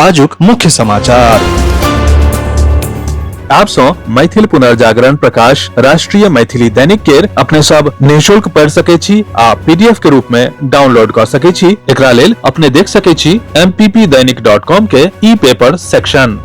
आजुक मुख्य समाचार आप सो मैथिल पुनर्जागरण प्रकाश राष्ट्रीय मैथिली दैनिक केर अपने सब निशुल्क पढ़ सके छी आ पीडीएफ के रूप में डाउनलोड कर सके छी एकरा लेल अपने देख सके छी mppdainik.com के ई पेपर सेक्शन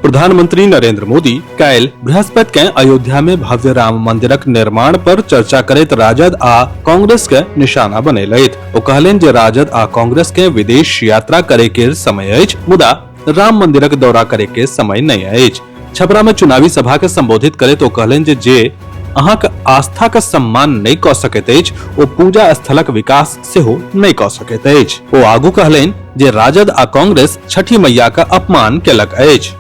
प्रधानमंत्री नरेंद्र मोदी काल्हि बृहस्पति के अयोध्या में भव्य राम मंदिरक निर्माण पर चर्चा करैत राजद आ कांग्रेस के निशाना बनेलथि ओ कहलनि जे राजद आ कांग्रेस के विदेश यात्रा करे के समय अछि मुदा राम मंदिरक दौरा करे के समय नहि अछि छपरा में चुनावी सभा के संबोधित करैत ओ कहलनि जे जे अहाँक आस्था के सम्मान नहि कऽ सकैत अछि ओ पूजा स्थलक विकास सेहो नहि कऽ सकैत अछि ओ आगू कहलनि जे राजद आ कांग्रेस छठी मैया के अपमान केलक अछि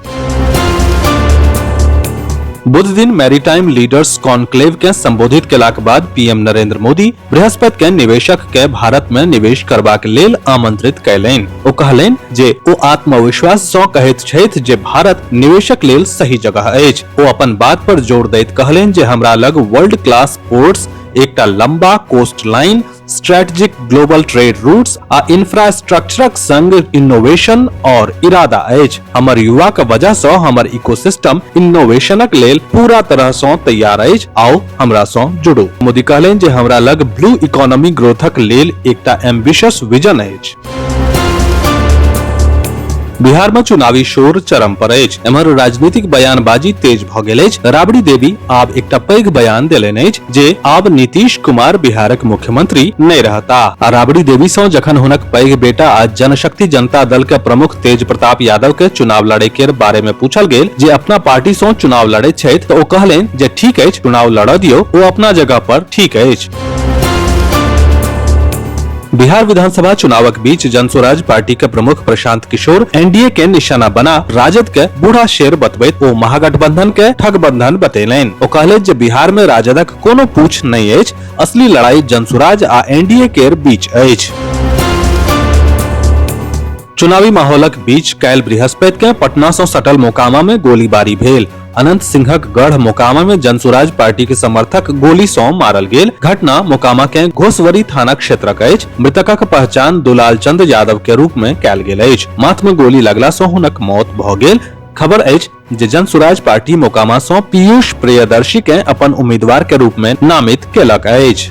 बुध दिन मैरीटाइम लीडर्स कॉन्क्लेव के संबोधित केलाक बाद पीएम नरेंद्र मोदी बृहस्पति के निवेशक के भारत में निवेश करबाक लेल आमंत्रित कयलनि ओ कहलनि जे ओ आत्मविश्वास सँ कहैत छथि जे भारत निवेशक लेल सही जगह अछि ओ अपन बात पर जोर दैत कहलनि जे हमरा लग वर्ल्ड क्लास पोर्ट्स एकटा लंबा coast line strategic global trade routes आ इंफ्रास्ट्रक्चरक संग इनोवेशन और इरादा अछि हमर युवा के वजह सँ हमर इकोसिस्टम इनोवेशनक लेल पूरा तरह सँ तैयार अछि आ ओ हमरा सं जुड़ू मोदी कहलनि जे हमरा लग ब्लू इकोनॉमी ग्रोथक लेल एकटा एम्बिशियस विजन अछि बिहार में चुनावी शोर चरम पर अछि एम्हर राजनीतिक बयानबाजी तेज भ गेल अछि राबड़ी देवी आब एकटा पैघ बयान देलनि अछि जे आब नीतीश कुमार बिहारक मुख्यमंत्री नहि रहता आ राबड़ी देवी सँ जखन हुनक पैघ बेटा आ जनशक्ति जनता दल के प्रमुख तेज प्रताप यादव के चुनाव लड़े के बारे में पूछल गेल जे अपना पार्टी सँ चुनाव लड़े छथि तऽ ओ कहलनि जे ठीक अछि चुनाव लड़ऽ दियौ ओ अपना जगह पर ठीक अछि बिहार विधानसभा चुनावक बीच जनसुराज पार्टी के प्रमुख प्रशांत किशोर एनडीए के निशाना बना राजद के बूढ़ा शेर बतबैत ओ महागठबंधन के ठगबंधन बतेलनि ओ कहलथि जे बिहार में राजदक कोनो पूछ नहि अछि असली लड़ाई जनसुराज आ एनडीए के बीच अछि चुनावी माहौलक बीच काल्हि बृहस्पति के पटना सँ सटल मोकामा में गोलीबारी भेल अनंत सिंहक गढ़ मोकामा में जनसुराज पार्टी के समर्थक गोली सौ मारल गेल घटना मोकामा के घोसवरी थाना क्षेत्रक अछि मृतकक पहचान दुलाल चंद यादव के रूप में कैल गेल अछि माथ में गोली लगला सौ हुनक मौत भ गेल खबर अछि जे जनसुराज पार्टी मोकामा सौ पीयूष प्रियदर्शी के अपन उम्मीदवार के रूप में नामित केलक अछि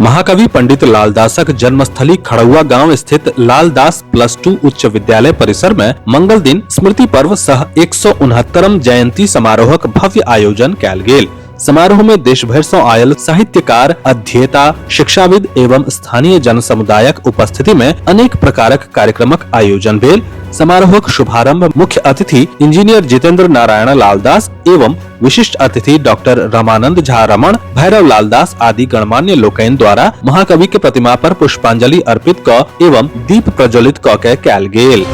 महाकवि पंडित लालदासक जन्मस्थली खड़ुआ गांव स्थित लालदास प्लस टू उच्च विद्यालय परिसर में मंगल दिन स्मृति पर्व सह एक सौ उनहत्तरम जयंती समारोहक भव्य आयोजन कयल गेल समारोह में देश भर से आयल साहित्यकार अध्येता शिक्षाविद एवं स्थानीय जन समुदायक उपस्थिति में अनेक प्रकारक कार्यक्रमक आयोजन भेल समारोहक शुभारंभ मुख्य अतिथि इंजीनियर जितेंद्र नारायण लालदास एवं विशिष्ट अतिथि डॉक्टर रमानंद झा रमण भैरव लाल दास आदि गणमान्य लोकैन द्वारा महाकवि के प्रतिमा पर पुष्पांजलि अर्पित क एवं दीप प्रज्वलित क के कैल गेल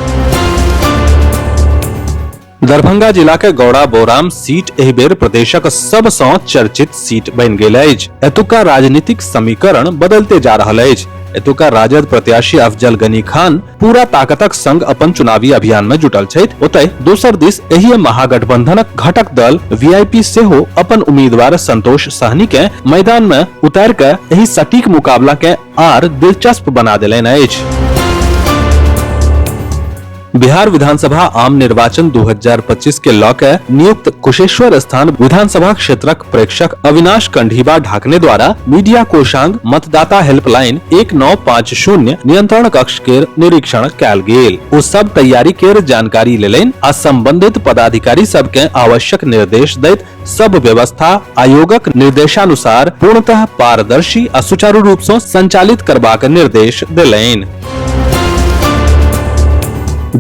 दरभंगा जिला के गौड़ा बोराम सीट एहि बेर प्रदेशक सब सौ चर्चित सीट बन गेल अछि एतुका राजनीतिक समीकरण बदलते जा रहल अछि एतुका राजद प्रत्याशी अफजल गनी खान पूरा ताकतक संग अपन चुनावी अभियान में जुटल छथि ओतय दोसर दिस एहि महागठबंधनक घटक दल वीआईपी सेहो अपन उम्मीदवार संतोष सहनी के मैदान में उतार के एहि सटीक मुकाबला के आर दिलचस्प बना देलनि अछि बिहार विधानसभा आम निर्वाचन 2025 के लऽ के नियुक्त कुशेश्वर स्थान विधानसभा क्षेत्रक प्रेक्षक अविनाश कंढीबा ढाकने द्वारा मीडिया कोषांग मतदाता हेल्पलाइन एक नौ पाँच शून्य नियंत्रण कक्ष के निरीक्षण कल गेल ओ सब तैयारी के जानकारी लेलनि आ संबंधित पदाधिकारी सब के आवश्यक निर्देश दैत सब व्यवस्था आयोगक निर्देशानुसार पूर्णतः पारदर्शी आ सुचारू रूप से संचालित करबाक निर्देश देलनि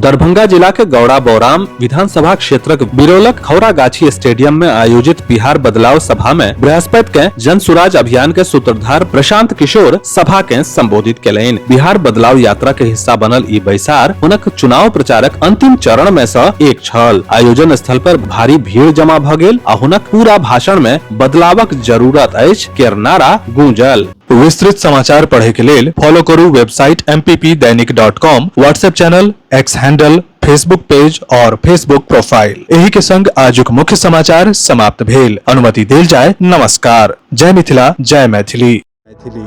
दरभंगा जिला के गौड़ा बौराम विधानसभा क्षेत्रक बिरोलक खौरागाछी स्टेडियम में आयोजित बिहार बदलाव सभा में बृहस्पति के जन सुराज अभियान के सूत्रधार प्रशांत किशोर सभा के संबोधित केलनि बिहार बदलाव यात्रा के हिस्सा बनल ई बैसार हुनक चुनाव प्रचारक अंतिम चरण में से एक छल आयोजन स्थल पर भारी भीड़ जमा भ गेल आ हुनक पूरा भाषण में बदलावक जरूरत अछि केर नारा गूंजल विस्तृत समाचार पढ़े के लेल फॉलो करू website M P P Dainik dot com WhatsApp channel X handle Facebook page और फेसबुक प्रोफाइल एही के संग आजुक मुख्य समाचार समाप्त भेल अनुमति देल जाय नमस्कार जय मिथिला जय मैथिली मैथिली